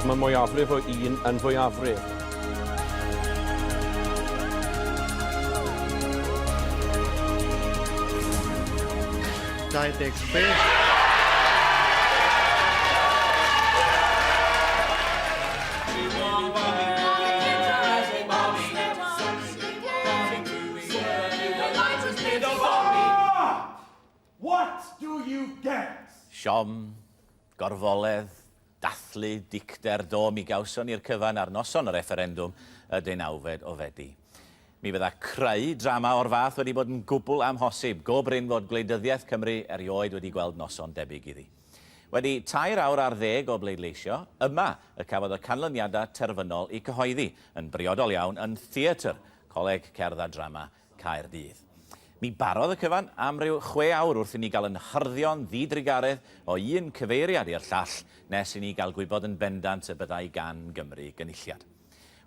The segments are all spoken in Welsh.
Mae mwyafrif o un yn fwyafrif. Dau ddeg chwech. What do you get? Siom, gorfoledd, dathlu, dicter, do, mi gawson ni'r cyfan ar noson y refferendwm y deunawfed o Fedi. Mi fydda creu drama o'r fath wedi bod yn gwbl amhosib, go brin fod gwleidyddiaeth Cymru erioed wedi gweld noson debyg iddi. Wedi tair awr ar ddeg o bleidleisio, yma y cafodd y canlyniadau terfynol eu cyhoeddi, yn briodol iawn, yn Theatr Coleg Cerdd a Drama Caerdydd. Mi barodd y cyfan am ryw chwe awr wrth i ni gael yn hyrddion ddidrugaredd o un cyfeiriad i'r llall nes i ni gael gwybod yn bendant y byddai gan Gymru gynulliad.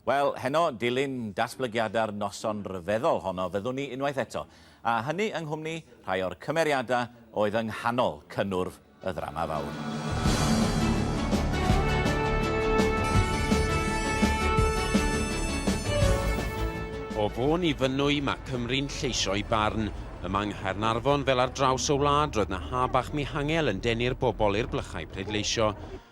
Wel, heno, dilyn datblygiadau'r noson ryfeddol honno, fyddwn ni unwaith eto, a hynny yng nghwmni rhai o'r cymeriadau oedd yng nghanol cynnwrf Y ddrama fawr. O Fôn i Fynwy, mae Cymru'n lleisio'i barn. Yma yng Nghaernarfon, fel ar draws y wlad, roedd 'na haf bach mihangel yn denu'r bobl i'r blychau pleidleisio.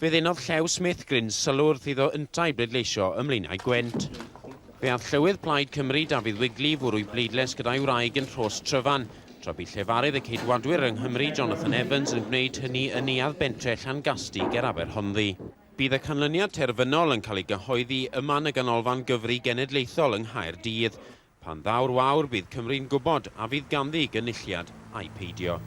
Fe ddenodd Llew Smith gryn sylw wrth iddo yntau bleidleisio ym Mlaenau Gwent. Fe aeth Llywydd Plaid Cymru, Dafydd Wigley, i fwrw'i bleidlais gyda'i wraig yn Rhos Tryfan, tra bu llefarydd y Ceidwadwyr yng Nghymru, Jonathan Evans, yn gwneud hynny yn neuadd bentre Llangasty ger Aberhonddu. Bydd y canlyniad terfynol yn cael ei gyhoeddi ym man y Ganolfan Gyfri Genedlaethol yng Nghaerdydd. Pan ddaw'r wawr bydd Cymru'n gwybod a fydd ganddi gynulliad ai peidio.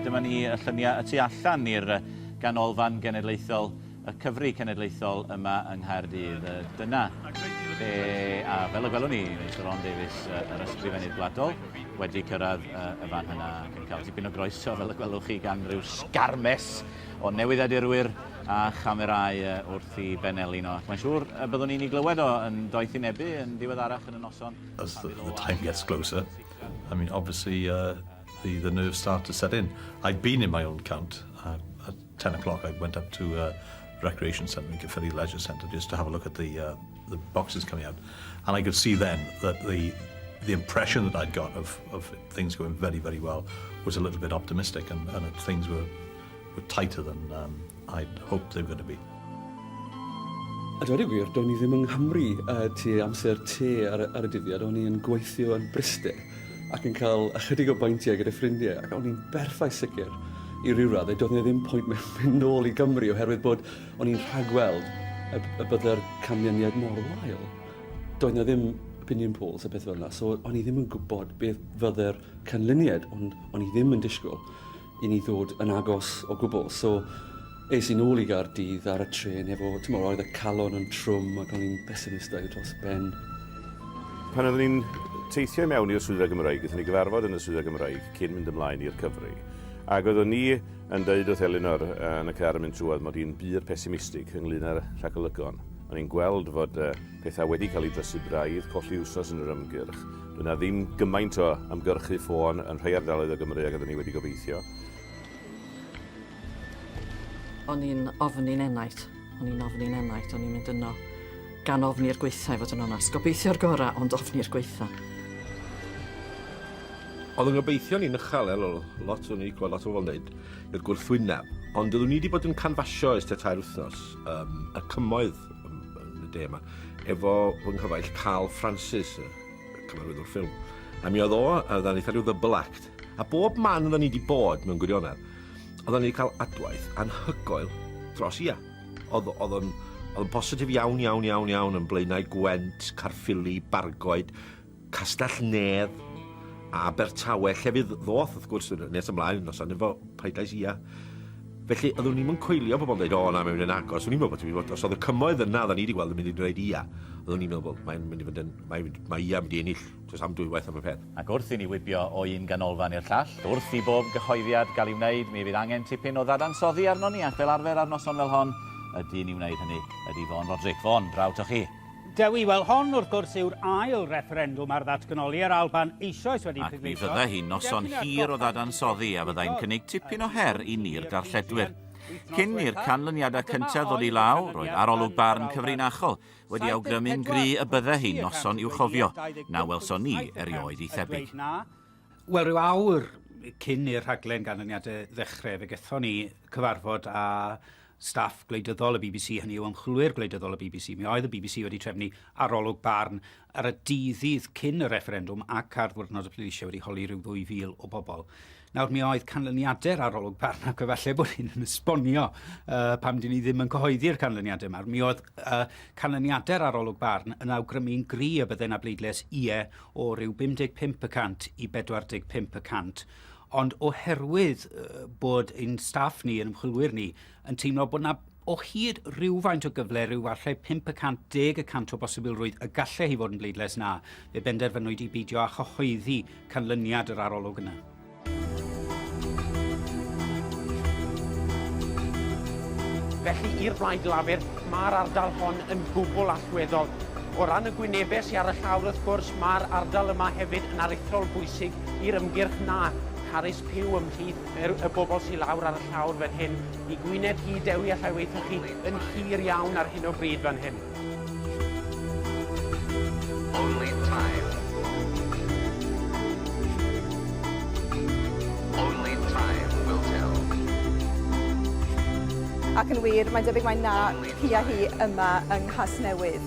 Dyma ni, y lluniau y tu allan i'r Ganolfan Genedlaethol, y Cyfri Cenedlaethol yma yng Nghaerdydd. Dyna lle, a fel y gwelwn ni, mae Sir Ron Davies, yr Ysgrifennydd Gwladol, wedi cyrraedd y fan hynna ac yn cael tipyn o groeso, fel y gwelwch chi, gan ryw sgarmes o newyddiadurwyr a chamerâu wrth i Ben Elin o ac mae'n siŵr y byddwn ni'n ei glywed o yn doethinebu yn ddiweddarach yn y noson. As the, the time gets closer, I mean, obviously, uh, the, the nerves start to set in. I've been in my own count. Uh, at 10 o'clock I went up to uh, Recreation Centre, Gyffyri Leisure Centre, just to have a look at the uh, the boxes coming out, and I could see then that the the impression that I'd got of, of things going very, very well was a little bit optimistic and, and that things were, were tighter than um, I'd hoped they were going to be. A dweud y gwir, do'n i ddim yng Nghymru uh, ti amser te ar, ar y dyddiad, o'n i'n gweithio yn Bryste ac yn cael ychydig o baentiau gyda ffrindiau ac o'n i'n berffaith sicr i ryw raddau, doedd e ddim pwynt mewn mynd nôl i Gymru oherwydd bod O'n i'n rhagweld y, y bydde'r canlyniad mor wael. Doedd na ddim opinion polls a beth fel yna, so o'n i ddim yn gwybod beth fydde'r canlyniad, ond o'n i ddim yn disgwyl i ni ddod yn agos o gwbl. So, es i'n ôl i Gaerdydd ar y tren efo, ti'n meddwl, oedd y calon yn trwm ac o'n i'n pesimistau dros ben. Pan oeddwn i'n teithio i mewn i'r swyddfa Gymraeg, gyda ni gyfarfod yn y swyddfa Gymraeg cyn mynd ymlaen i'r cyfri. Ac oeddwn ni Yn dweud wrth Elinor yn y car yn mynd trwodd mod i'n bur pesimistig ynglŷn â'r rhagolygon. O'n i'n gweld fod pethau wedi cael eu drysu braidd, colli wsos yn yr ymgyrch. Doedd 'na ddim gymaint o ymgyrchu ffôn yn rhai ardaloedd o Gymru ag oedden ni wedi gobeithio. O'n i'n ofn i'n enaid. O'n i'n ofn i'n enaid. O'n i'n mynd yno. Gan ofni'r gwaetha i fod yn onast. Gobeithio'r gorau ond ofni'r gwaetha. Oedd yn gobeithio'n un uchel, el, lot o'n i gweld lot o bobl yn dweud, i'r gwrthwyneb. Ond oeddwn i wedi bod yn canfasio ers tua tair wythnos, um, y cymoedd yn y de yma, efo fy nghyfaill Carl Francis, y cyfarwyddwr ffilm. A mi oedd o, a oedden ni eitha rhyw ddybl act. A bob man oedden ni wedi bod mewn gwirionedd, oedden ni wedi cael adwaith anhygoel dros ia. Oedd, oedd o'n, oedd o'n bositif iawn, iawn, iawn, iawn yn Blaenau Gwent, Carffili, Bargoed, Castell Nedd, a Abertawe, lle fydd ddoth, wrth gwrs, nes ymlaen, nos anifo, paidais ia. Felly, oeddwn ni'n coelio pobl yn dweud, o na, mae'n mynd yn agos. O'n i'n meddwl bod ti'n bod, os oedd y cymoedd yna, oedden ni wedi gweld yn mynd i'n dweud ia. Oeddwn ni'n meddwl, mae'n mynd i fod yn, mae, mae ia mynd i ennill, tys am dwywaith am y peth. Ac wrth i ni wibio o un ganolfan i'r llall, wrth i bob cyhoeddiad gael ei wneud, mi fydd angen tipyn o ddadansoddi arnon ni, ac fel arfer ar noson fel hon, y dyn i wneud hynny ydy Fôn Roderick. Fôn, draw 'to chi. Dewi, wel hon wrth gwrs yw'r ail refferendwm ar ddatganoli yr Alban eisoes wedi pleidleisio... Ac mi fydda hi'n noson hir o ddadansoddi a fyddai'n cynnig tipyn o her i ni'r darlledwyr. Cyn i'r canlyniadau cyntaf ddod i law, roedd arolwg barn cyfrinachol, wedi awgrymu'n gry y bydde hi'n noson i'w chofio na welson ni erioed ei thebyg. Wel, rhyw awr cyn i'r rhaglen ganlyniadau ddechrau, fe gethon ni cyfarfod â staff gwleidyddol y bbc, hynny yw ymchwilwyr gwleidyddol y bbc. Mi oedd y bbc wedi trefnu arolwg barn ar y dydd cyn y refferendwm ac ar ddiwrnod y pleidleisiau wedi holi rhyw 2,000 o bobl. Nawr, mi oedd canlyniadau'r arolwg barn, ac efallai bod hyn yn esbonio uh, pam dyn ni ddim yn cyhoeddi'r canlyniadau yma. Mi oedd uh, canlyniadau'r arolwg barn yn awgrymu'n gri y byddai na bleidlais ie o ryw 55 y cant i 45 y cant. Ond oherwydd uh, bod ein staff ni, yn ymchwilwyr ni, yn teimlo bod 'na o hyd rywfaint o gyfle, rhyw falle 5% deg y cant o bosibilrwydd y gallai hi fod yn bleidlais na, fe benderfynwyd i beidio â chyhoeddi canlyniad yr arolwg yna. Felly, i'r Blaid Lafur, mae'r ardal hon yn gwbl allweddol. O ran y gwynebau sy ar y llawr, wrth gwrs, mae'r ardal yma hefyd yn aruthrol bwysig i'r ymgyrch na, Carys Pugh ymhlith Er y bobl sy lawr ar y llawr fan hyn, i Gwynedd hi, Dewi allai weithio chi yn hir iawn ar hyn o bryd fan hyn. Only time. Only time will tell. Ac yn wir, mae'n debyg mai na hi a hi yma yng Nghasnewydd.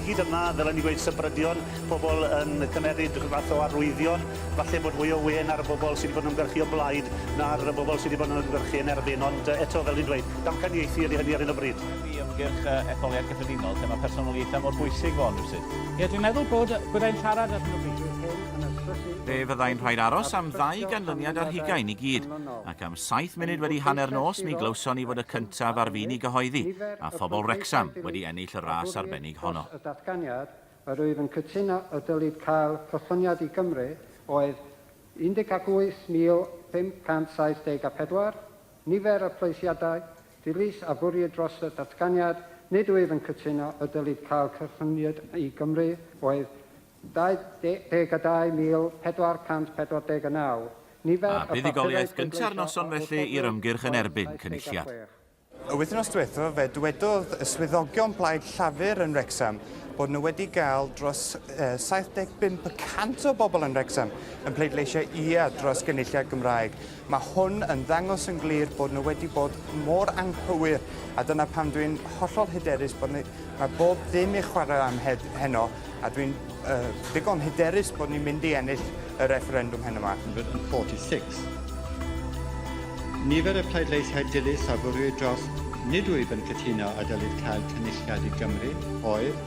Hyd yma, fel o'n i'n gweud, sybrydion. pobl yn cymeryd rhyw fath o arwyddion, falle bod mwy o wên ar y bobl sy 'di bod yn ymgyrchu o blaid na'r y bobl sy 'di bod yn ymgyrchu yn erbyn, ond eto, fel dwi'n dweud, damcaniaethu ydy hynny ar hyn o bryd. i ymgyrch y etholiad cyffredinol lle mae personoliaethau mor bwysig fo hwn rywsut. Ie, dwi'n meddwl bod, byddai'n siarad ar hyn o bryd yw'r hyn yn y trydydd... Fe fyddai'n rhaid aros am ddau ganlyniad ar hugain i gyd, ac am saith munud wedi hanner nos mi glywson ni fod y cyntaf ar fin i gyhoeddi, a phobl Wrecsam wedi ennill y ras arbennig honno. Yr wyf yn cytuno y dylid cael cychwyniad i Gymru oedd 18,574, nifer y pleidleisiadau, dilys a fwried dros y datganiad, nid wyf yn cytuno y dylid cael cychwyniad i Gymru oedd 22,449, nifer y papurau pleidleisio o 8,446. Y wythnos diwethaf fe dwedodd y swyddogion Plaid Llafur yn Wrecsam bod nhw wedi gael dros 75 y cant o bobl yn Wrecsam yn pleidleisio ia dros gynulliad Gymraeg. Mae hwn yn ddangos yn glir bod nhw wedi bod mor anghywir a dyna pam dwi'n hollol hyderus bod mae bob dim i chwarae am heno A dwi'n uh, ddigon hyderus bod ni'n mynd i ennill y refferendwm heno yma. 146. Nifer y pleidleisiau dilys a fwriwyd dros nid wyf yn cytuno a dylid cael cynulliad i Gymru oedd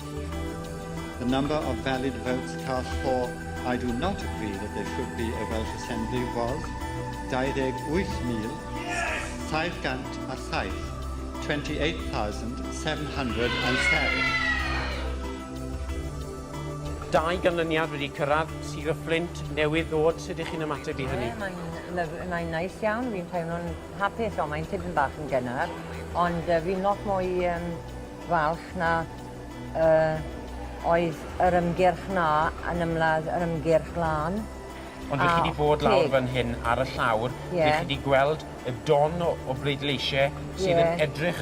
The number of valid votes cast for I do not agree that there should be a Welsh Assembly was 28,707 28,707 Dau ganlyniad wedi cyrraedd Sir y Fflint newydd ddod, sut ych chi'n ymateb i hynny? Mae'n mae'n neis iawn, fi'n teimlo'n hapus ond mae'n tipyn bach yn gynnar ond uh, fi'n lot mwy um, falch na uh, oedd yr ymgyrch na yn ymladd yr ymgyrch lan. Ond rych chi wedi bod lawr fan hyn ar y llawr, yeah. rych chi wedi gweld y don o, o bleidleisiau sydd yeah. yn edrych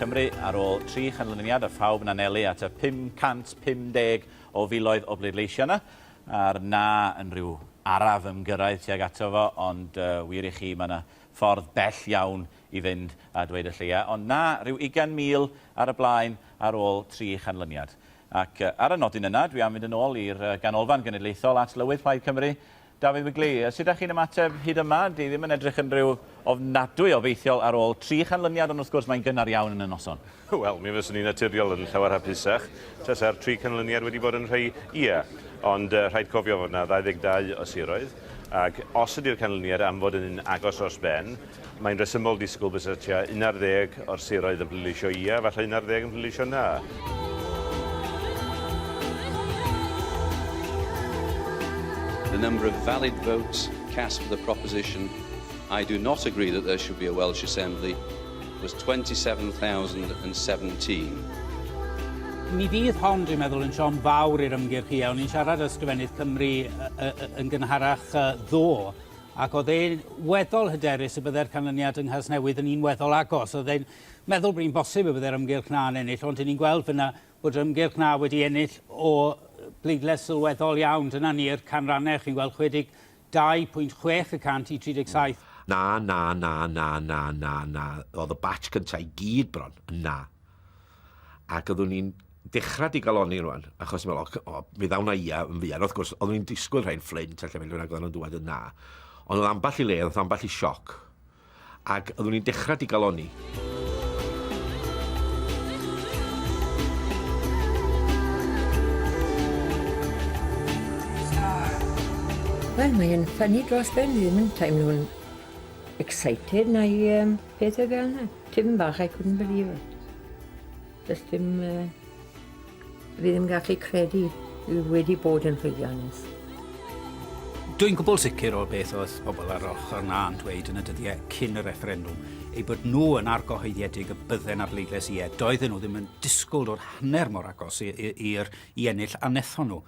Cymru ar ôl tri chanlyniad a phawb yn anelu at y 550 o filoedd o bleidleisio yna, a'r na yn rhyw araf ymgyrraedd tuag ato fo, ond uh, wir i chi, mae yna ffordd bell iawn i fynd a dweud y lleia, ond na, rhyw 20,000 ar y blaen ar ôl tri chanlyniad. Ac ar y nodyn yna, dwi am fynd yn ôl i'r Ganolfan Genedlaethol at Lywydd Plaid Cymru, Dafydd Wigley, Sut dach chi'n ymateb hyd yma? Dyw ddim yn edrych yn rhyw ofnadwy obeithiol ar ôl tri chanlyniad ond wrth gwrs mae'n gynnar iawn yn y noson. Wel, mi fyswn i'n naturiol yn llawer hapusach tasa'r tri canlyniad wedi bod yn rhai ie. Ond rhaid cofio fod 'na 22 o siroedd ac os ydi'r canlyniad am fod yn un agos dros ben, Mae'n rhesymol disgwyl bysa tua un ar ddeg o'r siroedd yn pleidleisio ia, falle un ar ddeg yn pleidleisio na. The number of valid votes cast for the proposition I do not agree that there should be a Welsh Assembly was 27,017. Mi fydd hon, dwi'n meddwl, yn siom fawr i'r ymgyrch i. O'n i'n siarad â Sgrifennydd Cymru yn gynharach ddo, Ac oedd e'n weddol hyderus y byddai'r canlyniad yng Nghasnewydd yn un weddol agos. Oedd e'n meddwl bod hi'n bosib y byddai'r ymgyrch na yn ennill, ond 'yn ni'n gweld fan'na bod yr ymgyrch na wedi ennill o bleidlais sylweddol iawn. Dyna ni'r canrannau, chi'n gweld 62 pwynt chwech y cant i 37. Na, na, na, na, na, na, na, oedd y batch cyntaf i gyd bron yn na. ac oeddwn ni'n dechrau digaloni rwan, achos meddwl, o, o, fe ddawn na ia yn fuan. Wrth gwrs, oeddwn ni'n disgwyl rhain fflint, a lle mynd rhywun ag oeddwn nhw'n dweud yn na. Ond oedd ambell i le, oedd ambell i sioc, ac oeddwn ni'n dechrau digaloni. Wel, mae'n ffynnu dros ben, ddim yn teimlo'n excited neu um, Peth oedd yna, tipyn bach, I couldn't believe it. Does dim... Uh, fi ddim gallu credu fi wedi bod yn llwyddiannus. Dwi'n gwbl sicr o'r beth oedd pobl ar ochr na yn dweud yn y dyddiau cyn y refferendwm, ei bod nhw yn argyhoeddiedig y bydden ar bleidlais ie, doedden nhw ddim yn disgwyl o'r hanner mor agos i'r i, i, i ennill a nethon nhw.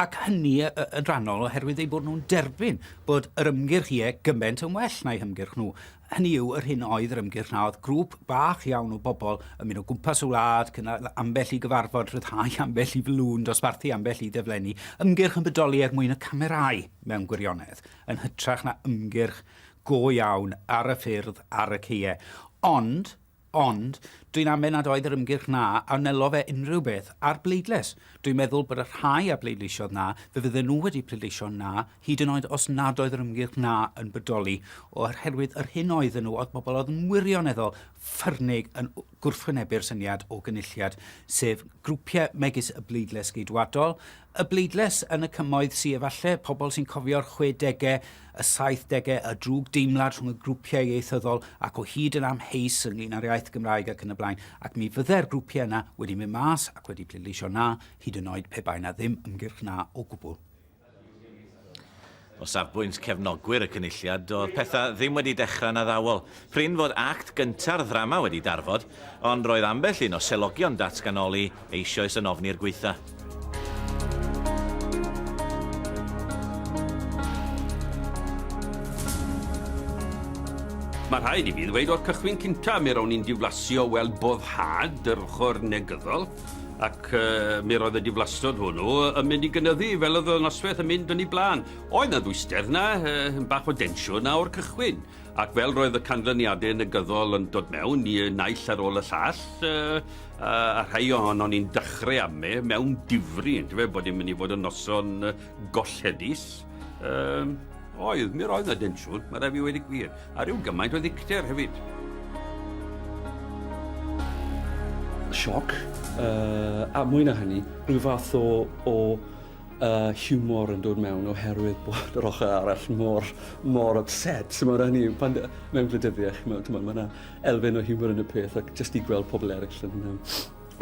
ac hynny yn rhannol oherwydd eu bod nhw'n derbyn bod yr ymgyrch ie gymaint yn well na'u hymgyrch nhw, hynny yw yr hyn oedd yr ymgyrch na oedd grŵp bach iawn o bobl yn mynd o gwmpas y wlad, cynnal ambell i gyfarfod, rhyddhau ambell i flwn, dosbarthu ambell i ddeflenni, ymgyrch yn bodoli er mwyn y camerâu mewn gwirionedd, yn hytrach na ymgyrch go iawn ar y ffyrdd, ar y caeau. Ond, Ond, dwi'n amau nad oedd yr ymgyrch 'na a wnelodd fe unrhyw beth â'r bleidlais. Dwi'n meddwl bod y rhai a bleidleisiodd 'na, fe fydden nhw wedi pleidleisio 'na, hyd yn oed os nad oedd yr ymgyrch 'na yn bodoli, oherwydd yr hyn oedden nhw oedd pobl oedd yn wirioneddol ffyrnig yn gwrthwynebu'r syniad o gynulliad, sef grwpiau megis y bleidlais Geidwadol, y bleidlais yn y Cymoedd sy efallai pobl sy'n cofio'r chwedegau, y saithdegau, y drwg deimlad rhwng y grwpiau ieithyddol ac o hyd yn amheus ynglyn â'r iaith Gymraeg ac yn y blaen, ac mi fyddai'r grwpiau yna wedi mynd mas ac wedi pleidleisio 'na', hyd yn oed pe bai 'na ddim ymgyrch 'na' o gwbl. O safbwynt cefnogwyr y Cynulliad, doedd pethau ddim wedi dechrau'n addawol. Prin fod act gynta'r ddrama wedi darfod, ond roedd ambell un o selogion datganoli eisioes yn ofni'r gwaetha. Mae rhaid i fi ddweud o'r cychwyn cynta mi rown i'n diflasio weld boddhad yr ochr negyddol, ac mi roedd y diflastod hwnnw yn mynd i gynyddu fel oedd y noswaith yn mynd yn ei blaen. Oedd na ddwyster na, bach o densiwn na o'r cychwyn. Ac fel roedd y canlyniadau negyddol yn dod mewn, y naill ar ôl y llall, a rhai ohonon ni'n dechrau amu mewn difri, yn dyfe, bod ni'n mynd i fod yn noson gollhedus. Um, oedd, mi roedd na densiwn, mae rhaid fi wedi gwir, a rhyw gymaint o ddicter hefyd. Sioc, uh, a mwy na hynny, rhyw fath o, o y hiwmor yn dod mewn oherwydd bod yr ochr arall mor, mor upset. So mae hynny, pan, mewn gwleidyddiaeth, chymod, mae yna elfen o hiwmor yn y peth ac jyst i gweld pobl eraill yn, um,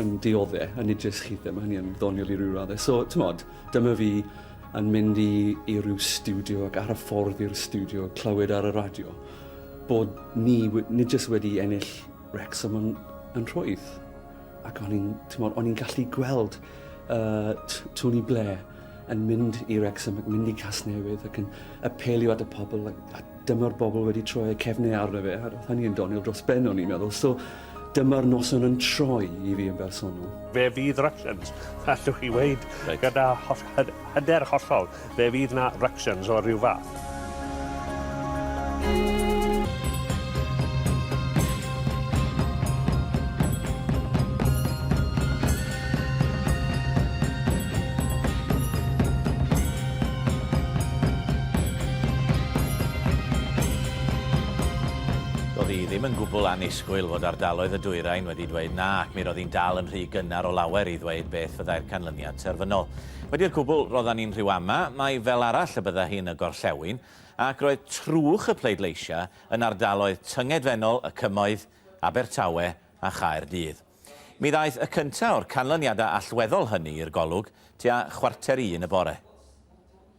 yn diodde, a nid jyst chi ddim, mae hynny yn ddoniol i ryw raddau. So, tymod, dyma fi yn mynd i, i ryw studio ac ar y ffordd i'r studio clywed ar y radio bod ni, nid jyst wedi ennill Wrexham yn, yn rhwydd. Ac o'n i'n, timod, o'n i'n gallu gweld uh, Tony Blair yn mynd i Wrexham ac mynd i Casnewydd ac yn apelio at y pobl ac, a dyma'r bobl wedi troi y cefnau arno fe. A roedd hynny yn doniol dros ben o'n i'n meddwl. So dyma'r noson yn troi i fi yn bersonol. Fe fydd Rushlands, allwch chi weid, right. gyda hyder hollol. Fe fydd na ructions o ryw fath. Doedd hi ddim yn gwbl annisgwyl fod ardaloedd y dwyrain wedi dweud na, ac mi roedd hi'n dal yn rhy gynnar o lawer i ddweud beth fyddai'r canlyniad terfynol. Wedi'r cwbl roeddan ni'n rhyw ama, mae fel arall y bydda hi'n y gorllewin, ac roedd trwch y pleidleisiau yn ardaloedd tyngedfennol y Cymoedd, Abertawe a Chaerdydd. Mi ddaeth y cyntaf o'r canlyniadau allweddol hynny i'r golwg tua chwarter i un y bore.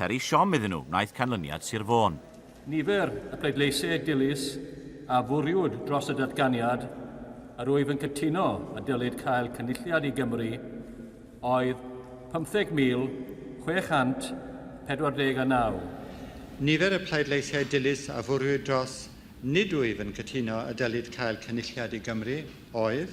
Peri siom iddyn nhw wnaeth canlyniad Sir Fôn. Nifer y pleidleisiau dilys a fwriwd dros y datganiad yr wyf yn cytuno y dylid cael Cynulliad i Gymru oedd 15,649. Nifer y pleidleisiau dilys a fwriwd dros nid wyf yn cytuno y dylid cael Cynulliad i Gymru oedd.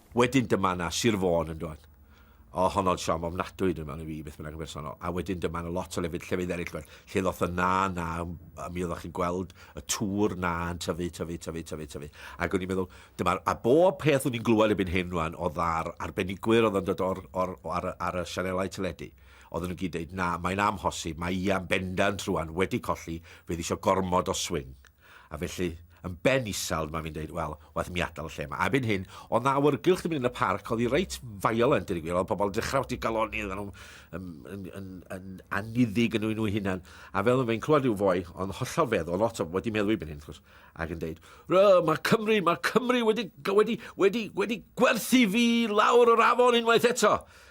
Wedyn dyma 'na Sir Fôn yn dod. O, honno'n siom ofnadwy dyma i fi, beth bynnag yn bersonol. A wedyn dyma 'na lot o lefydd, llefydd eraill, lle ddoth y na, na, a mi oeddech chi'n gweld y tŵr na yn tyfu, tyfu, tyfu, tyfu, tyfu. Ac o'n i'n meddwl, dyma, a bob peth o'n i'n glywed ebyn hyn rwan, o ddar arbenigwyr oedd yn dod o'r, o'r, ar, ar y sianelau teledu, oedd nhw'n gyd dweud, na, mae'n amhosib, mae Ian bendant rwan wedi colli, fe ddisio gormod o swing. A felly, yn ben isel, dyma fi'n dweud, wel, waeth mi adael y lle yma. A byn hyn, oedd na awyrgylch yn mynd yn y parc, oedd hi reit violent, dweud y gwir, oedd pobl yn dechrau wedi galoni, oedd nhw'n yn, yn, yn, yn aniddig yn nhw hunan. A fel yn fe'n clywed rhyw foi, ond hollol feddwl, oedd lot o wedi meddwl i byn hyn, chwrs, ac yn dweud, mae Cymru, mae Cymru wedi, wedi, wedi, wedi gwerthu fi lawr o'r afon unwaith eto.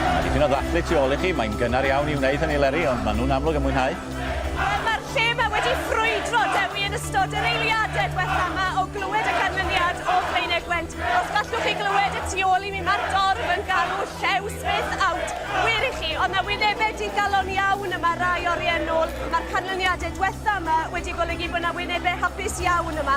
Mae dipyn o ddathlu tu ôl i chi, mae'n gynnar iawn i wneud hynny Leri, ond maen nhw'n amlwg yn mwynhau. Mae'r lle yma wedi ffrwydro, Dewi, yn ystod yr eiliadau diwetha' yma o glywed y canlyniad o Flaenau Gwent. Os gallwch chi glywed y tu ôl i mi, mae'r dorf yn galw Llew Smith out. Gwyr i chi, oedd 'na wynebau digalon iawn yma rai oriau nôl. Mae'r canlyniadau diwetha' yma wedi golygu bod 'na wynebau hapus iawn yma.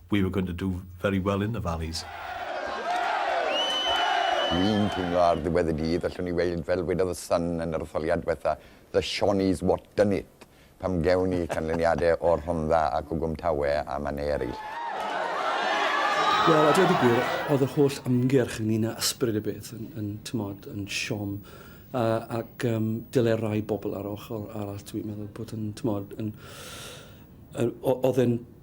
We were going to do very well in the valleys. Dwi'n teimlo ar ddiwedd y dydd allwn ni weud fel wedodd y Sun yn yr etholiad dwetha, the Shawnees what done it, pam gewn ni canlyniade o Rhondda a Cwgwm Tawe a mannau eraill. Wel, a dweud y gwir, oedd yr holl ymgyrch ynglyn â ysbryd y beth yn, yn tymod, yn siom, uh, ac um, dyle rai bobl ar ochr arall, dwi'n meddwl bod yn, tymod, yn, uh, oedd yn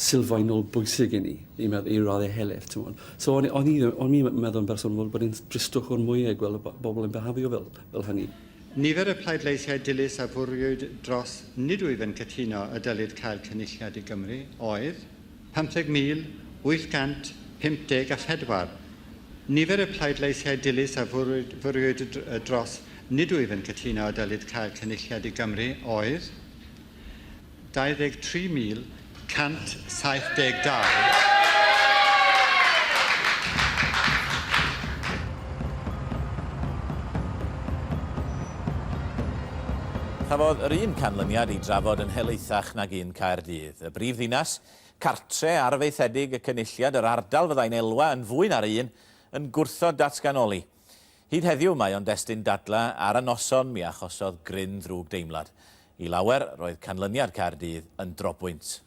sylfaenol bwysig i ni, i meddwl, i raddau helaeth, ti'n gwybod. So o'n, o'n i, o'n i'n meddwl yn bersonol bod, bod yn dristwch o'r mwyau i gweld y bobl yn behafio fel, fel hynny. Nifer y pleidleisiau dilys a fwriwyd dros nid wyf yn cytuno y dylid cael Cynulliad i Gymru oedd 50,854. Nifer y pleidleisiau dilys a fwriwyd, fwriwyd dros nid wyf yn cytuno y dylid cael Cynulliad i Gymru oedd 23,072. Cafodd yr un canlyniad ei drafod yn helaethach nag un Caerdydd, y brif ddinas, cartre arfaethedig y Cynulliad, yr ardal fyddai'n elwa yn fwy na'r un yn gwrthod datganoli. Hyd heddiw, mae o'n destun dadla ar y noson mi achosodd gryn ddrwg deimlad. I lawer, roedd canlyniad Caerdydd yn drobwynt.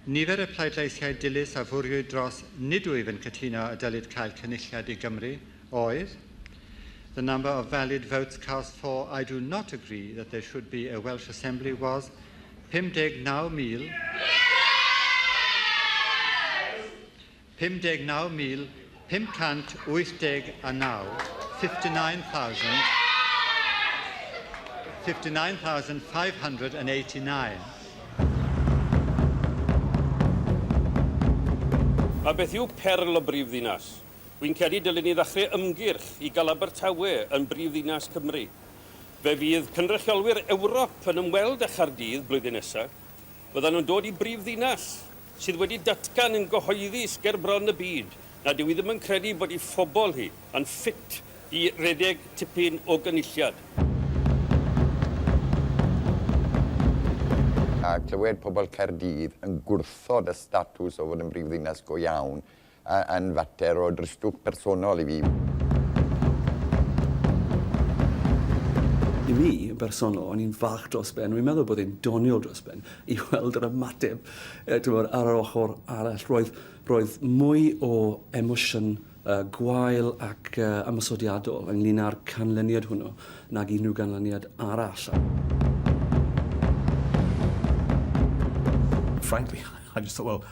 Nifer y pleidleisiau dilys a fwriwyd dros nid wyf yn cytuno y dylid cael cynulliad i Gymru oedd The number of valid votes cast for I do not agree that there should be a Welsh Assembly was 59,000. 59,589, 59,589. A beth yw perl y brif ddinas? Wi'n credu dylun ni ddachre ymgyrch i ga'l Abertawe yn brif ddinas Cymru. Fe fydd cynrychiolwyr Ewrop yn ymweld â Chardydd blwyddyn nesa, Byddan nhw'n dod i brifddinas sydd wedi datgan yn gyhoeddus ger bron y byd nad yw hi ddim yn credu bod ei phobl hi yn ffit i redeg tipyn o gynulliad. A clywed pobl Caerdydd yn gwrthod y statws o fod yn brifddinas go iawn, A yn fater o dristwch personol i fi. I mi, yn bersonol, o'n i'n falch dros ben, rwy'n meddwl bod e'n doniol dros ben, i weld yr ymateb, timod, ar yr ochr arall. Roedd, roedd mwy o emosiwn uh, gwael ac uh, ymosodiadol ynglyn â'r canlyniad hwnnw nag unrhyw ganlyniad arall. frankly, I just thought, well,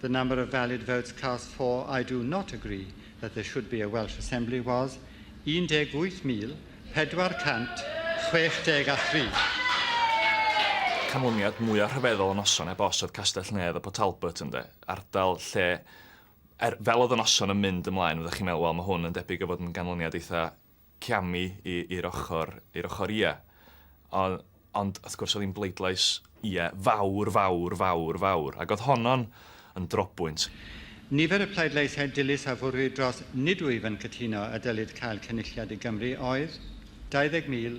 The number of valid votes cast for I do not agree that there should be a Welsh Assembly was 18,463. Canlyniad mwya rhyfeddol y noson heb os oedd Castell-nedd y Port Talbot ynde? Ardal lle er, fel oedd y noson yn mynd ymlaen fyddech chi'n meddwl wel mae hwn yn debyg o fod yn ganlyniad eitha camu i, i'r ochr, i'r ochr ie. O, ond, wrth gwrs, oedd hi'n bleidlais ie fawr, fawr, fawr, fawr, ac oedd honno'n yn drobwynt. Nifer y pleidleisiau dilys a fwrwyd dros 'nid wyf yn cytuno' y dylid cael Cynulliad i Gymru oedd 20,000,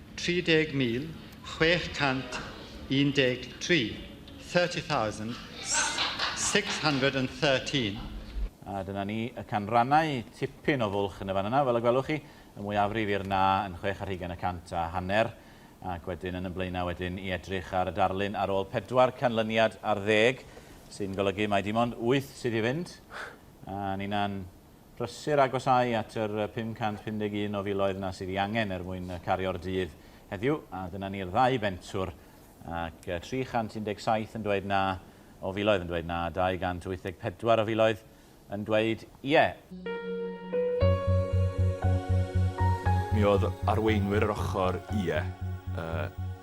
30,613, 30,613. A dyna ni, y canrannau, tipyn o fwlch yn y fan yna, fel y gwelwch chi, y mwyafrif i'r na yn chwech ar hugain y cant a hanner, ac wedyn yn y blaenau wedyn i edrych ar y darlun ar ôl pedwar canlyniad ar ddeg, sy'n golygu mai dim ond wyth sydd i fynd, a ninna'n Prysur agosáu at yr 551 o filoedd 'na sydd 'i angen er mwyn cario'r dydd heddiw, a dyna ni'r ddau bentwr, ac 317 yn dweud na o filoedd yn dweud na, a 284 o filoedd yn dweud ie. Mi oedd arweinwyr yr ochr ie, a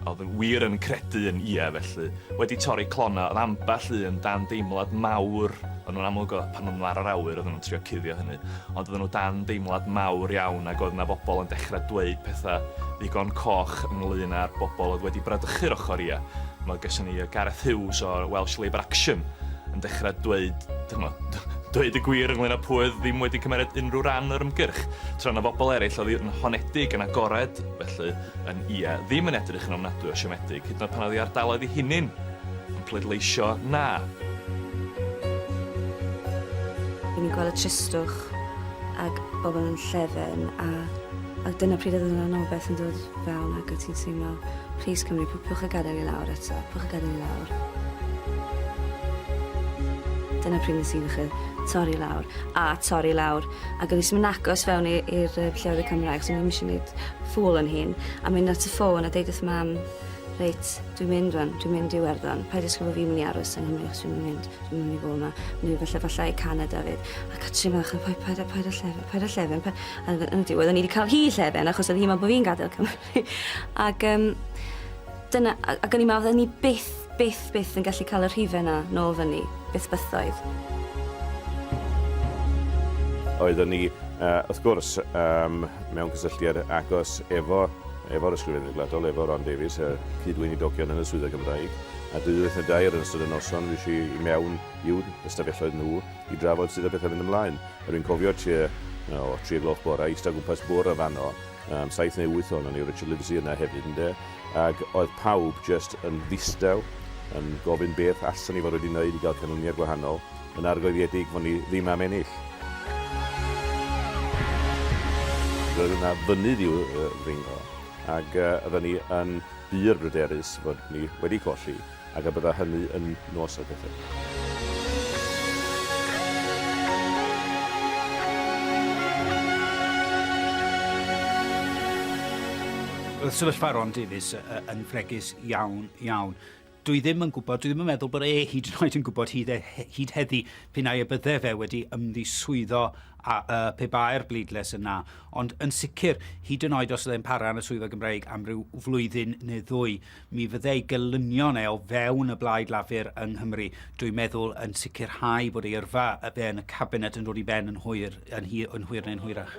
oedd yn wir yn credu yn ie felly, wedi torri clonnau, oedd ambell un dan deimlad mawr, O'n nhw'n amlwg oedd pan oedden nhw ar yr awyr oedden nhw'n trio cuddio hynny, ond oedden nhw dan deimlad mawr iawn ac oedd 'na bobl yn dechrau dweud pethau ddigon coch ynglŷn â'r bobl oedd wedi bradychu'r ochr ia. Mae gyson ni Gareth Hughes o Welsh Labour Action yn dechrau dweud, chimod, dweud y gwir ynglŷn â pwy oedd ddim wedi cymeryd unrhyw ran o'r ymgyrch, tra oedd 'na bobl eraill oedd yn honedig, yn agored, felly, yn ia, ddim yn edrych yn ofnadwy o siomedig, hyd yn oed pan oedd ei ardaloedd ei hunin! Pleidleisio Na. Ry'n ni'n gweld y tristwch ac bobl yn llefen a a dyna pryd oedd yna rhywbeth yn dod fewn ac o ti'n teimlo plis Cymru pw- pwch y gadael i lawr eto pwch y gadael i lawr. Dyna pryd nes i ddechrau torri lawr a torri lawr ac o'n i ddim yn agos fewn i i'r yy llefydd Cymraeg so o'n i'm isio neud ffŵl o'n hun a mynd at y ffôn a deud wrth mam Reit, dwi'n mynd rwan, dwi'n mynd i Iwerddon. Paid ddisgwyl bod fi'n mynd i aros yng Nghymru achos dwi'n mynd i fynd, dwi'n mynd i fod yma. Dwi'n mynd i falle falle i Canada fyd. A Catrin fach, paid, paid, paid, paid â llefen, paid â llefen. Paid... A yn y diwedd, o'n i wedi cael hi llefen achos oedd hi'n meddwl bod fi'n gadael Cymru. Ac um, dyna, ac o'n i'n meddwl, ni byth, byth, byth yn gallu cael y rhifau yna nôl fyny, byth bythoedd. Oeddwn ni, uh, wrth gwrs, um, mewn cysylltiad agos efo Efo'r Ysgrifennydd Gwladol, efo Ron Davies, y cyd-weinidogion yn y Swyddfa Gymraeg, a dwy wyth neu dair yn ystod y noson fues i i mewn i'w ystafelloedd nhw i drafod sut oedd pethau'n mynd ymlaen. A dwi'n cofio tua o, tri o gloch bore, ista gwmpas bwr' yn fanno, am saith neu wyth ohonon ni, Richard Livesey yna hefyd, ynde, ac oedd pawb jyst yn ddistaw, yn gofyn beth allan ni fod wedi wneud i gael canlyniad gwahanol. Yn argoediedig fo' ni ddim am ennill. Roedd yna fynydd i'w ddringo, ac oeddan ni yn bur bryderus fod ni wedi colli, ac y bydda hynny yn nos o gyffur. Roedd sefyllfa Ron Davies yn fregus iawn, iawn. Dwi ddim yn gwybod, dwi ddim yn meddwl bod e hyd yn oed yn gwybod hyd, e, hyd heddi p'un ai y bydde fe wedi ymddiswyddo a, a, pe bae'r bleidlais yn na. Ond yn sicr, hyd yn oed os oedd e'n para yn y swyddfa Gymreig am ryw flwyddyn neu ddwy, mi fydde ei gelynion e o fewn y blaid Lafur yng Nghymru, dwi'n meddwl, yn sicrhau bod ei yrfa fe yn y cabinet yn dod i ben yn hwyr, yn, hi, yn hwyr neu'n hwyrach.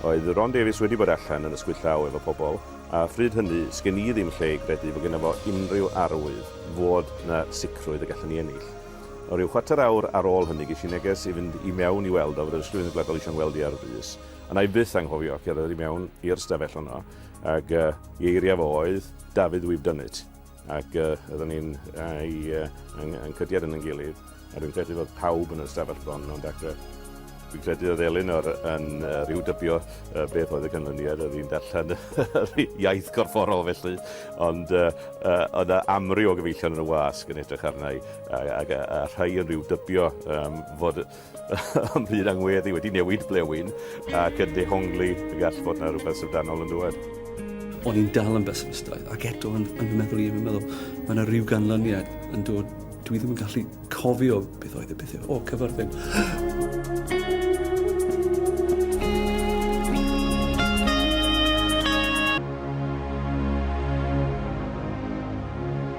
Oedd Ron Davies wedi bod allan yn ysgwyd llaw efo pobl, a phryd hynny, sgen i ddim lle i gredu fod gynno fo unrhyw arwydd fod 'na sicrwydd y gallwn ni ennill. O ryw chwarter awr ar ôl hynny ges i neges i fynd i mewn i weld o fod yr Ysgrifennydd Gwladol eisiau 'ngweld i ar frys, a wna i byth anghofio cerdded i mewn i'r stafell honno, ag yy i eiriau fo oedd, David we've done it. Ac oedden ni'n ei, yn, yn cydiad yn yn gilydd, a dwi'n credu fod pawb yn y stafell bron o'n dacre. Dwi'n credu oedd Elinor yn uh, rhyw dybio uh, beth oedd y canlyniad, oedd hi'n darllen yr iaith gorfforol felly, ond uh, uh, oedd yna amryw o gyfeillion yn y wasg yn edrych arna i, a, a, a, a rhai yn rhyw dybio um, fod Ym mhyd angweddi wedi newid blewyn ac yn dehongli y gall fod na rhywbeth syfrdanol yn dŵad. O'n i'n dal yn besimistaidd, ac eto yn, yn fy meddwl i, yn fy meddwl, mae yna rhyw ganlyniad yn dod, dwi ddim yn gallu cofio beth oedd y pethau, o, cyfarfyn.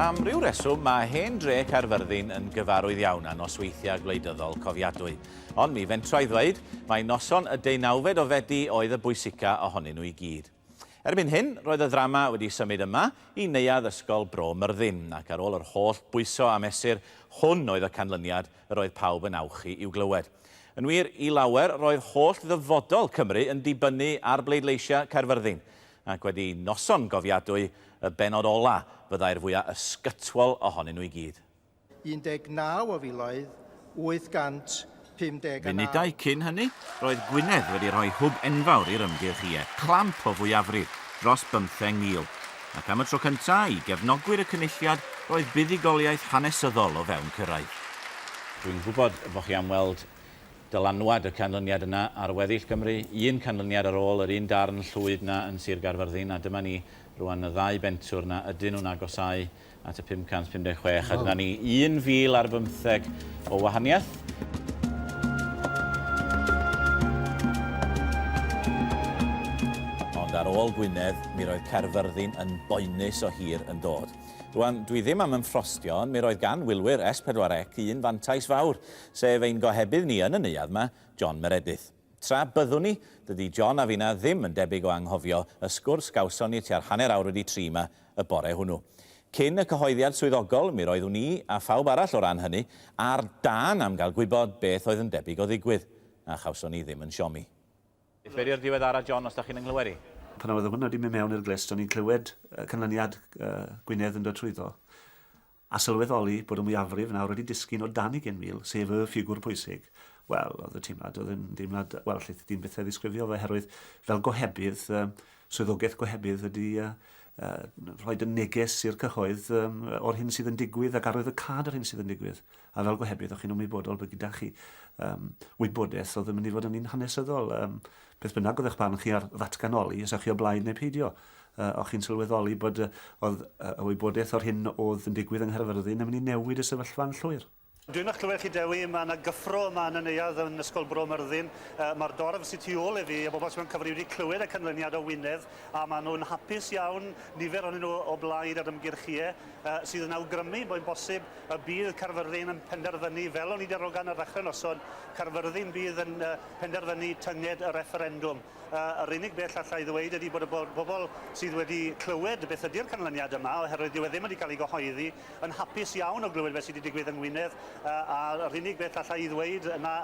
Am ryw reswm, mae hen dre Caerfyrddin yn gyfarwydd iawn â nosweithiau gwleidyddol cofiadwy. Ond mi fentra i ddweud, mae noson y deunawfed o Fedi oedd y bwysica ohonyn nhw i gyd. Erbyn hyn, roedd y ddrama wedi symud yma i Neuadd Ysgol Bro Myrddin, ac ar ôl yr holl bwyso a mesur, hwn oedd y canlyniad yr oedd pawb yn awchu i'w glywed. Yn wir, i lawer, roedd holl ddyfodol Cymru yn dibynnu ar bleidleisiau Caerfyrddin, ac wedi noson gofiadwy, y bennod ola' fyddai'r fwya' ysgytwol ohonyn nhw i gyd. 19 o filoedd 859. Munudau cyn hynny, roedd Gwynedd wedi rhoi hwb enfawr i'r ymgyrch Ie, clamp o fwyafrif dros bymtheng mil, ac am y tro cyntaf i gefnogwyr y Cynulliad roedd buddugoliaeth hanesyddol o fewn cyrraedd. Dwi'n gwybod bo chi am weld dylanwad y canlyniad yna ar weddill Gymru, un canlyniad ar ôl yr un darn llwyd 'na yn Sir Gaerfyrddin, a dyma ni rwan y ddau bentwr 'na ydyn nhw'n agosáu at y 556 a dyna ni 1,000 ar bymtheg o wahaniaeth. Ond ar ôl Gwynedd, mi roedd Caerfyrddin yn boenus o hir yn dod. Rwan, dwi ddim am ymffrostio, ond mi roedd gan wylwyr S4C un fantais fawr, sef ein gohebydd ni yn y neuadd 'ma, John Meredyth. Tra byddwn ni, dydy John a finna ddim yn debyg o anghofio y sgwrs gawson ni tua'r hanner awr wedi tri 'ma y bore hwnnw. Cyn y cyhoeddiad swyddogol, mi roeddwn i, a phawb arall o ran hynny, ar dân am gael gwybod beth oedd yn debyg o ddigwydd, a chawson ni ddim yn siomi. Beth wedi'r diweddara John os da chi'n 'y nghlywed i? Pan oedd hwn wedi mynd mewn i'r glust o'n i'n clywed y canlyniad Gwynedd yn dod trwyddo. a sylweddoli bod y mwyafrif nawr wedi disgyn o dan ugain mil, sef y ffigwr pwysig, wel, oedd y teimlad, oedd yn deimlad, wel, allith ti ddim byth ei ddisgrifio fo, oherwydd fel gohebydd, swyddogaeth gohebydd ydy rhoi y neges i'r cyhoedd o'r hyn sydd yn digwydd ac arwydd y cad o'r hyn sydd yn digwydd. A fel gohebydd, o'ch chi'n ymwybodol bod gyda chi um, wybodaeth oedd yn mynd i fod yn un hanesyddol. Um, Beth bynnag oedd eich barn chi ar ddatganoli, os ewch chi o blaid neu peidio, o'ch chi'n sylweddoli bod oedd y wybodaeth o'r hyn oedd yn digwydd yng Nghaerfyrddin yn mynd i newid y sefyllfa yn llwyr? Dwi'n eich clywed chi Dewi, mae yna gyffro yma yn y neuadd yn Ysgol Bro Myrddin. Mae'r dorf sy tu ôl i fi, y bobl sy mewn cyfri wedi clywed y canlyniad o Wynedd a maen nhw'n hapus iawn, nifer ohonyn nhw o blaid yr ymgyrch ie, sydd yn awgrymu boi'n bosib y bydd Caerfyrddin yn penderfynu, fel o'n i 'di arogan ar ddechrau noson, Caerfyrddin bydd yn penderfynu tynged y refferendwm. Yr unig beth alla i ddweud ydy bod y bobl sydd wedi clywed beth ydy'r canlyniad yma, oherwydd dyw e ddim wedi cael ei gyhoeddi, yn hapus iawn o glywed beth sydd wedi digwydd yng Ngwynedd, a'r unig beth alla i ddweud yna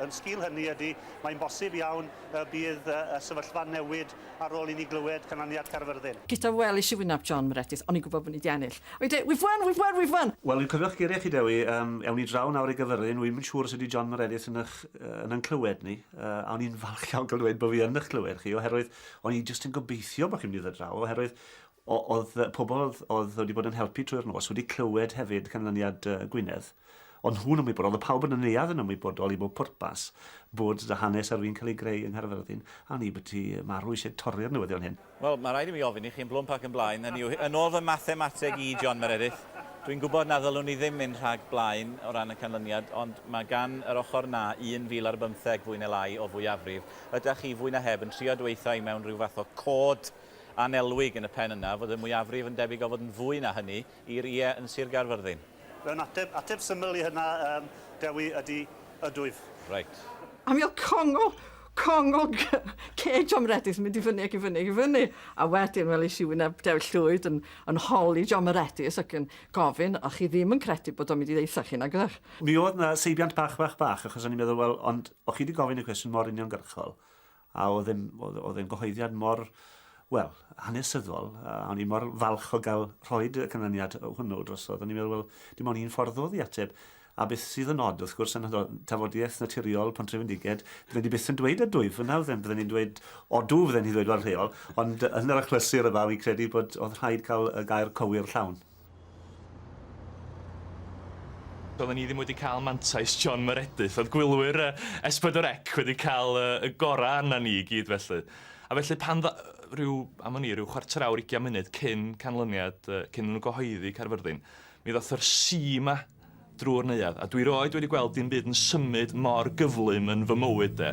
yn sgil hynny ydy mae'n bosib iawn y bydd y sefyllfa'n newid ar ôl i ni glywed canlyniad Caerfyrddin. Gyda welis i wyneb John Meredith, o'n i'n gwybod bod ni 'di ennill. O'n i'n dweud, we've won, we've won, we've won! Wel, dwi'n cofio'ch geiriau chi, Dewi, yym, ewn ni draw nawr i Gaerfyrddin, wi'm yn siŵr os ydy John Meredith yn eich, yn yn clywed ni, a o'n i'n falch iawn cael dweud bod fi yn eich clywed chi, oherwydd o'n i jyst yn gobeithio bod chi'n mynd i ddod draw, oherwydd Oedd pobl oedd wedi bod yn helpu trwy'r nos wedi clywed hefyd canlyniad Gwynedd, ond nhw'n ymwybodol, oedd pawb yn y neuadd yn ymwybodol i bob pwrpas, bod dy hanes ar fin cael ei greu yng Nghaerfyrddin, a hynny bod ti marw eisiau torri'r newyddion hyn. Wel, mae rhaid i mi ofyn i chi yn blwmp ac yn blaen, hynny yw, yn ôl fy mathemateg i, John Meredyth, dwi'n gwybod na ddylwn ni ddim mynd rhag blaen o ran y canlyniad, ond mae gan yr ochr 'na 1,000 ar bymtheg, fwy neu lai, o fwyafrif. Ydach chi, fwy na heb, yn trio dweutha i mewn rhyw fath o cod, annelwig yn y pen yna fod y mwyafrif yn debyg o fod yn fwy na hynny i'r ie yn Sir Gaerfyrddin. Fy ateb, ateb syml i hynna, yym, Dewi, ydy, ydw, wyf. Reit. A mi oedd congo, congo ceg John Meredydd yn mynd i fyny ac i fyny ac i fyny. A wedyn welis i wyneb Dewi Llwyd yn, yn holi John Meredydd ac yn gofyn, o'ch chi ddim yn credu bod o'n mynd i ddeutha chi, nag oeddech? Mi oedd 'na seibiant bach, bach, bach, achos o'n i'n meddwl, wel, ond o'ch chi 'di gofyn y cwestiwn mor uniongyrchol, A oedd e'n, oedd, oedd e'n gyhoeddiad mor, wel, hanesyddol, a o'n i mor falch o gael rhoi y canlyniad hwnnw drosodd. O'n i'n meddwl, wel, dim ond un ffordd oedd i ateb. A beth sydd yn od, wrth gwrs, yn tafodiaeth naturiol Pontrefendiged, bydden ni byth yn dweud y dwyf yna, fydden, bydden ni'n dweud odw, fydden ni'n dweud fel rheol, ond yn yr achlysur yma, fi'n credu bod oedd rhaid cael y gair cywir llawn. Doedden ni ddim wedi cael mantais John Meredyth, oedd gwylwyr S4C wedi cael y gorau arna ni i gyd felly. A felly pan dda... rhyw, am wn i, rhyw chwarter awr, ugian munud cyn canlyniad, cyn iddyn nhw gyhoeddi Caerfyrddin, mi ddoth yr si 'ma. drwy'r neuadd, a dwi rioed wedi gweld dim byd yn symud mor gyflym yn fy mywyd de.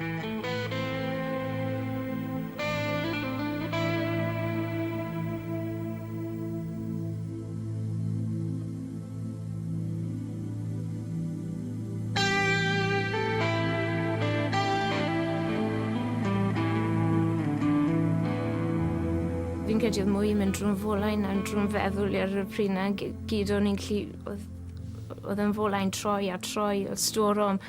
Fi'n credu odd mwy yn mynd drw'm fola i na drw'm feddwl i ar y pryd 'na gy- gyd o'n i'n gallu Oedd, oedd yn folau'n troi a troi, oedd storom,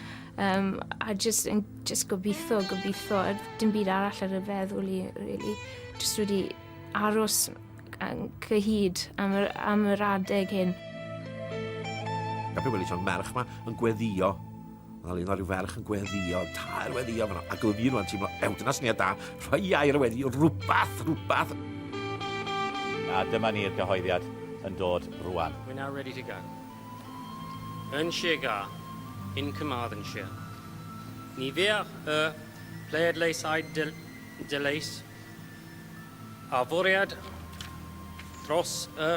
um, a jyst, yn, jyst gobeithio, gobeithio, a dim byd arall ar y feddwl i, really. Jyst wedi aros yn cyhyd am yr, am yr adeg hyn. Gapi weli John merch ma yn gweddio Wel, un o ryw ferch yn gweddio, tair weddio, a glyfu fi rwan teimlo, ew, dyna syniad da, rhoi air y wedi, rhywbeth, rhywbeth. A dyma ni'r gyhoeddiad yn dod rwan. We're now ready to go. Yn Sir Ga, in Carmarthenshire. Ni feach y pleidleisaid de, deleis a fwriad dros y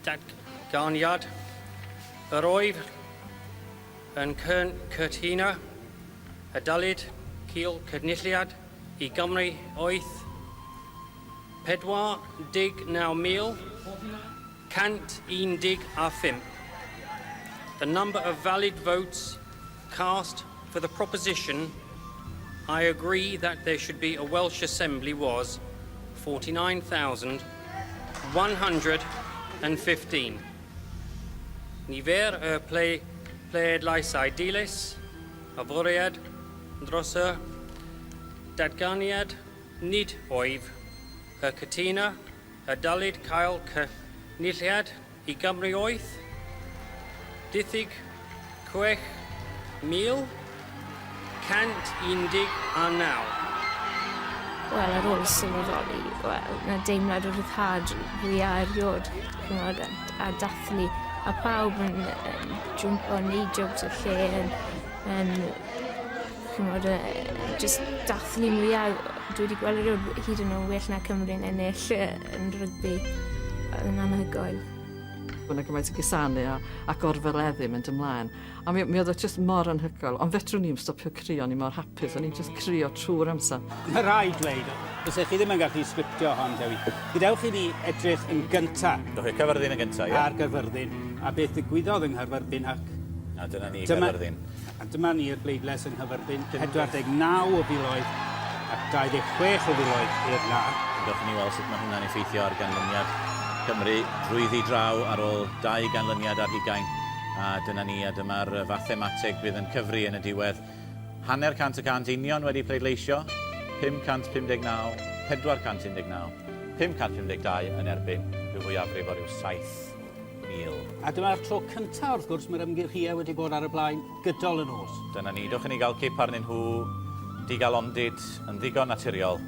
Datganiad, Yr oedd yn cytuno y dylid cael Cynulliad i Gymru oedd 49,115. The number of valid votes Cast for the proposition, I agree that there should be a Welsh Assembly was 49,115. Nifer y ple, pleidlaisau dilys, y fwriad dros y datganiad nid oedd y cytuna a dylid cael cynulliad i Gymru oedd diffyg 6,119. Wel, ar ôl sylweddoli, wel, na deimlad o ryddhad fwya erioed, ch'mod, a a dathlu, a pawb yn yn jwmpo, neud jobs y lle, yn yn ch'mod yy jyst dathlu mwya dwi 'di gweld erioed hyd yn o' well na Cymru'n ennill yy yn rygbi. Odd e'n anhygoel. O' 'na gymaint o gusanu a a gorforeddu mynd ymlaen a mi o- mi o'dd o jyst mor anhygoel ond fedrwn i'm stopio crio o'n i mor hapus o'n i'n jyst crio trw'r amser. Ma' raid dweud, byse chi ddim yn gallu sgriptio hon Dewi. Gadewch i ni edrych yn gynta'... Do fe, Caerfyrddin yn gynta', ie. ...ar Gaerfyrddin a beth ddigwyddodd yng Nghaerfyrddin ac... A dyna ni, Caerfyrddin. ...dyma A dyma ni i'r bleidlais yng nghyferbyn 49 o filoedd ac 26 o filoedd i'r Na. Dewch i ni weld sut mae hwnna'n effeithio ar ganlyniad Cymru drwyddi draw ar ôl dau ganlyniad ar hugain. A dyna ni, a dyma'r fathemateg bydd yn cyfri yn y diwedd. Hanner cant y cant union wedi pleidleisio, 559, 419, 552 yn erbyn, rhyw fwyafrif o ryw 70. Neil. A dyma'r tro cyntaf, wrth gwrs, mae'r ymgyrchiau wedi bod ar y blaen gydol y nos. Dyna ni, dwch i ni gael cip arnyn nhw, digal ondid, yn ddigon naturiol.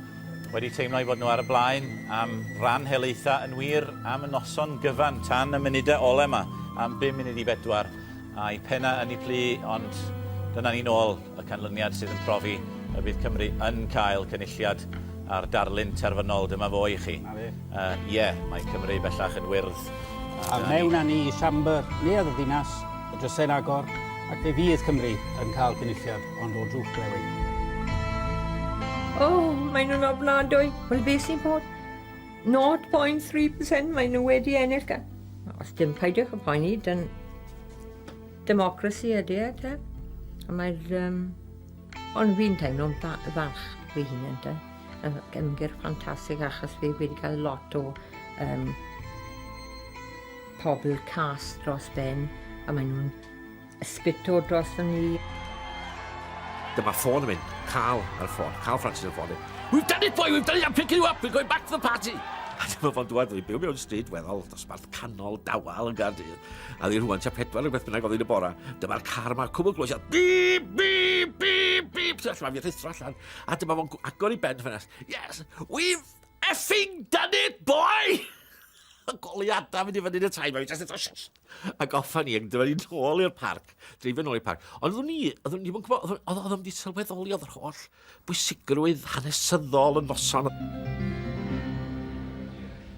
Wedi teimlo i fod nhw ar y blaen am ran helaethau yn wir am y noson gyfan tan y munudau ole yma, am 5 munud i bedwar, a'i pennau yn ei plu, ond dyna ni nôl. y canlyniad sydd yn profi y bydd Cymru yn cael cynulliad a'r darlun terfynol, dyma fo i chi. Ie, uh, yeah, mae Cymru bellach yn wyrdd. A mewn â ni i siambr neuadd y ddinas, y drysau'n agor, ac fe fydd Cymru yn cael cynulliad ond o drwch blewyn. Oh, mae nhw'n ofnadwy. Wel, beth sy'n bod? 0.3% mae nhw wedi ennill gan. Os dim peidiwch y poeni, dyn Democracy ydy e, te. A mae'r... Um, ond fi'n teimlo'n falch fy hunan, te. Ymgyrch ffantastig achos fi wedi cael lot o um, pobl cas dros ben a maen nhw'n ysbyto dros fy ni. Dyma ffôn yn mynd. Cael ar y ffôn. Cael Francis ar y ffôn. We've done it, boy! We've done it! I'm picking you up! We're going back to the party! A dyma fo'n dweud, dwi'n byw mewn stryd weddol dosbarth canol dawel yn Gardydd. A ddi rhywun tua pedwar rhywbeth bynnag oedd yn y bora. Dyma'r car yma, cwbl glwys, a bip, bip, bip, bip. Ti'n allan, fi'n rhithro allan. A dyma fo'n agor i ben ffenest. Yes, we've effing done it, boy! y goliadau mynd i fyny yn y tai, mae'n just eto shh. A goffa ni, ac dyma ni'n ôl i'r parc, dreifio nôl i'r parc. Ond oeddwn ni, oeddwn ni ddim yn gwybod, oeddwn ni ddim wedi sylweddoli oedd yr holl bwysigrwydd hanesyddol y noson.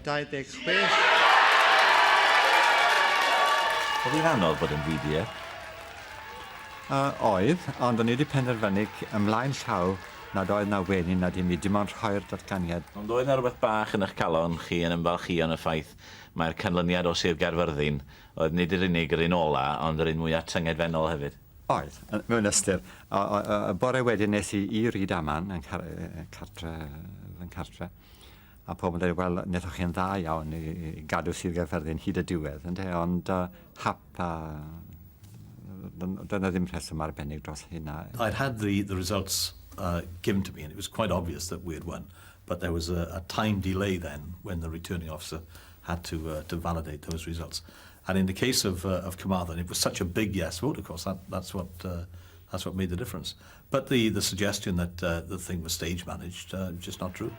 26. Oedd hi'n anodd bod yn ddiduedd? Yy, oedd, ond o'n i wedi penderfynu c- ymlaen llaw nad oedd 'na wenin na dim i dim ond rhoi'r datganiad. Ond oedd 'na rywbeth bach yn 'ych calon chi yn ymfalchïo yn y ffaith mai'r canlyniad o Sir Gaerfyrddin oedd nid yr unig yr un ola' ond yr un mwya' tyngedfennol hefyd? Oedd, mewn ystyr. O, o, o, y bore wedyn nes i i Ryd Aman, yn car, cartre, fy nghartre, a pobl yn dweud, wel, nethoch chi'n dda iawn i, i gadw Sir Gaerfyrddin hyd y diwedd, yn te, ond uh, hap, a dyna ddim rheswm arbennig dros hynna. I'd had the, the results uh, given to me, and it was quite obvious that we had won, but there was a, a time delay then when the returning officer had to uh, to validate those results. And in the case of uh, of Carmarthen, it was such a big yes vote. Of course, that that's what uh, that's what made the difference. But the the suggestion that uh, the thing was stage managed uh, just not true.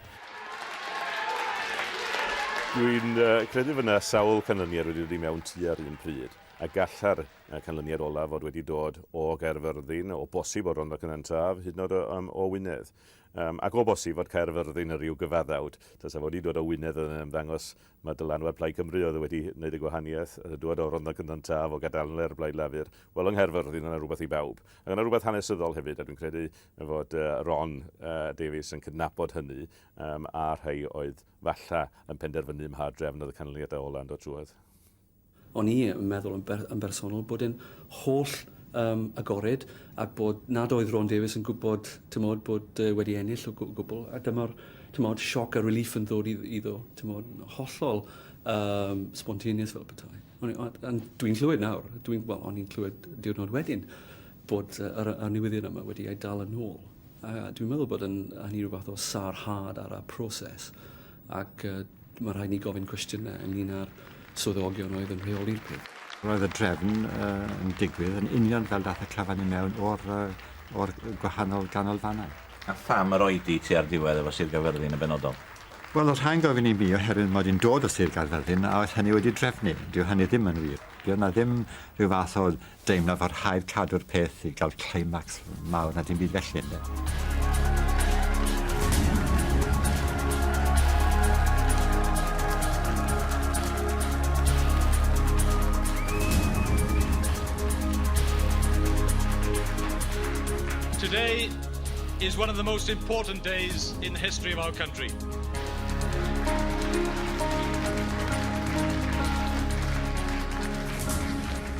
Dwi'n uh, credu fod yna sawl canlyniad wedi dod i mewn tu ar un pryd, a galla'r uh, canlyniad olaf fod wedi dod o Gaerfyrddin, o bosib o Rondo Cynantaf, hyd yn oed um, o Wynedd. Yym, ac o bosib fod Caerfyrddin yn rhyw gyfaddawd, tasa fo 'di dod o Wynedd oedd yn ymddangos ma' dylanwad Plaid Cymru oedd wedi neud y gwahaniaeth, yy dŵad o Rondda Cynon Taf, o Gadalnlr, Blaid Lafur, wel yng Nghaerfyrddin o' 'na rwbeth i bawb. Ac o' 'na rwbeth hanesyddol hefyd, a dwi'n credu fod yy Ron yy Davies yn cydnabod hynny, yym, a rhei oedd falla yn penderfynu mha drefn oedd y canlyniadau ola' yn dod trwodd. O'n i yn meddwl yn, ber, yn bersonol bod e'n holl um, agored ac bod nad oedd Ron Davies yn gwybod tymod, bod uh, wedi ennill o gwbl a dyma'r tymod, sioc a relief yn ddod iddo tymod, hollol um, spontaneous fel petai. Ond dwi'n clywed nawr, dwi'n, well, o'n i'n clywed diwrnod wedyn bod uh, yr, y newyddion yma wedi ei dal yn ôl. A dwi'n meddwl bod yn, hynny rhywbeth o sarhad ar y proses Ac mae rhaid ni gofyn cwestiynau ynglyn â'r swyddogion oedd yn rheoli'r peth. Roedd y drefn yn digwydd yn union fel daeth y clyfan i mewn o'r gwahanol ganolfannau. A pham yr oedi tua'r diwedd efo Sir Gaerfyrddin yn benodol? Wel, os rhaid gofyn i mi, oherwydd mod i'n dod o Sir Gaerfyrddin a oedd hynny wedi drefnu. Dyw hynny ddim yn wir. Dyw 'na ddim rhyw fath o deimlo fod rhaid cadw'r peth i gael climax mawr na dim byd felly ynde. Today is one of the most important days in the history of our country.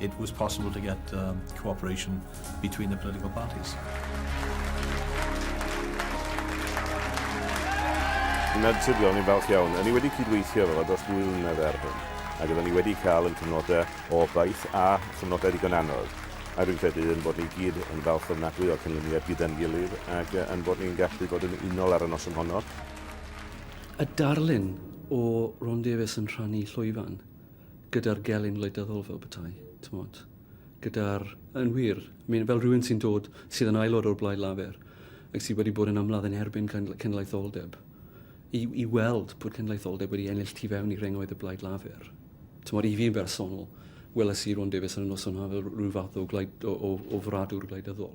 It was possible to get um, cooperation between the political parties. Yn naturiol, ni'n falch iawn. Ni wedi cydweithio efo dros ddwy flynedd ar hyn, ac oeddwn ni wedi cael yn cyfnodau o baith a chyfnodau ddigon anodd. A rwy'n credu yn bod ni gyd yn falch ofnadwy o'r cynlyniad gyda'n gilydd ac yn bod ni'n gallu bod yn unol ar y noson honno. Y darlun o Ron Davies yn rhannu llwyfan. gyda'r gelyn wleidyddol fel petai, tymod, gyda'r, yn wir, mi'n fel rhywun sy'n dod, sydd yn aelod o'r Blaid Lafur, ac sydd wedi bod yn amlad yn erbyn cenedlaetholdeb, i, i weld bod cenedlaetholdeb wedi ennill tu fewn i rhengoedd y Blaid Lafur. Tymod, i fi'n bersonol, weles i Ron Davies yn y noson haf fel rhyw fath o, glaid, o, o, o fradwr gwleidyddol.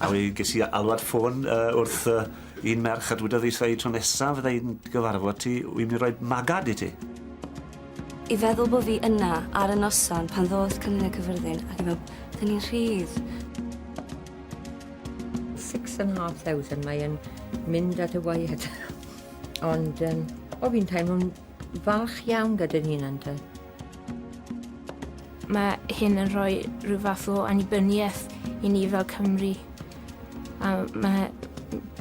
A mi ges i alwad ffôn yy wrth yy un merch a dwedodd 'i sai tro nesa fydda i'n dy gyfarfod ti wi myn' i roi magad i ti. I feddwl bo' fi yna ar y noson pan ddoth Cymru Cyffyrddin ac i fel 'dyn ni'n rhydd. Six and half thousand mae yn mynd at y waed ond yym o fi'n teimlo'n falch iawn gyda'n hunan 'te. Mae hyn yn rhoi rhyw fath o annibyniaeth i ni fel Cymru. A mae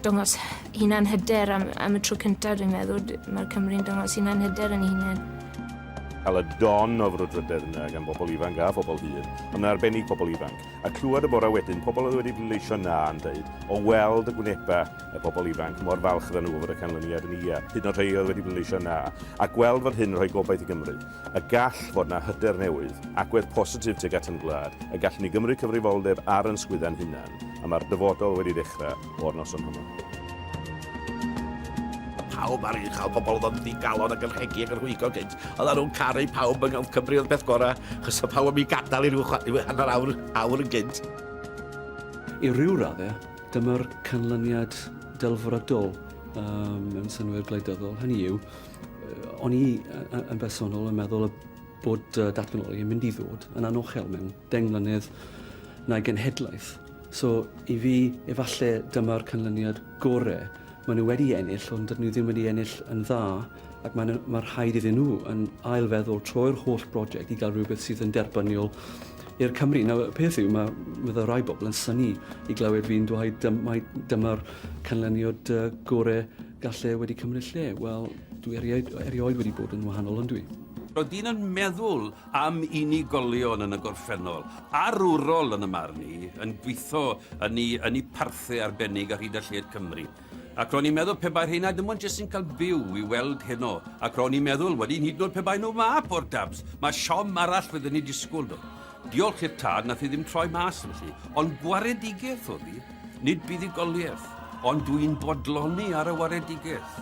dangos hunan hyder am, am y tro cyntaf dwi'n meddwl. Mae Cymru'n dangos hunan hyder yn ei hunain. Cael y don o frwdfrydedd yna gan bobl ifanc a phobl hŷn, ond yn arbennig pobl ifanc. A clywed y bore wedyn pobl oedd wedi pleidleisio na yn dweud, o weld y gwnebau y pobl ifanc, mor falch oedden nhw o fod y canlyniad yn ia, hyd yn oed rhai oedd wedi pleidleisio na, a gweld fod hyn yn rhoi gobaith i Gymru. Y gall fod na hyder newydd, agwedd positif tuag at ein gwlad, y gallwn ni gymryd cyfrifoldeb ar yn sgwydda'n hunan, a mae'r dyfodol wedi dechrau o'r noson honno. Pawb ar uchel, pobl oedd yn ddigalon ac yn rhegi ac yn rhwygo gynt. Oedden nhw'n caru pawb yng Nghelf Cymru oedd beth gorau, chos y pawb yn mi gadael i ryw hanner awr, awr yn gynt. I ryw raddau, Dyma'r canlyniad delfrydol mewn synnwyr gwleidyddol. Hynny yw, o'n i yn bersonol yn meddwl y bod datganoli yn mynd i ddod yn anochel mewn deng mlynedd na'i genhedlaeth. So, i fi, efallai dyma'r canlyniad gorau. Maen nhw wedi ennill, ond dydyn nhw ddim wedi ennill yn dda. ac mae'n mae rhaid iddyn nhw yn ailfeddwl troi'r holl brosiect i gael rhywbeth sydd yn derbyniol i'r Cymru. Nawr, y peth yw, mae, mae rai bobl yn syni i glywed fi'n dweud dym, mae dyma'r canlyniad uh, gorau gallu wedi cymryd lle. Wel, dwi erioed, erioed wedi bod yn wahanol, ond dwi. Roedd dyn yn meddwl am unigolion yn y gorffennol, arwrol yn y marn i, yn gweithio yn ei, yn ei parthe arbennig ar hyd a lled Cymru. Ac ro'n i'n meddwl pe bai rheina dim ond jyst yn cael byw i weld heno. Ac ro'n i'n meddwl wedyn hyd yn oed pe bai nhw 'ma, poor dabs, mae siom arall fydden ni'n disgwyl nhw. Diolch i'r tad nath i ddim troi mas felly, ond gwaredigaeth oedd hi, nid buddugoliaeth, ond dw i'n bodloni ar y waredigaeth.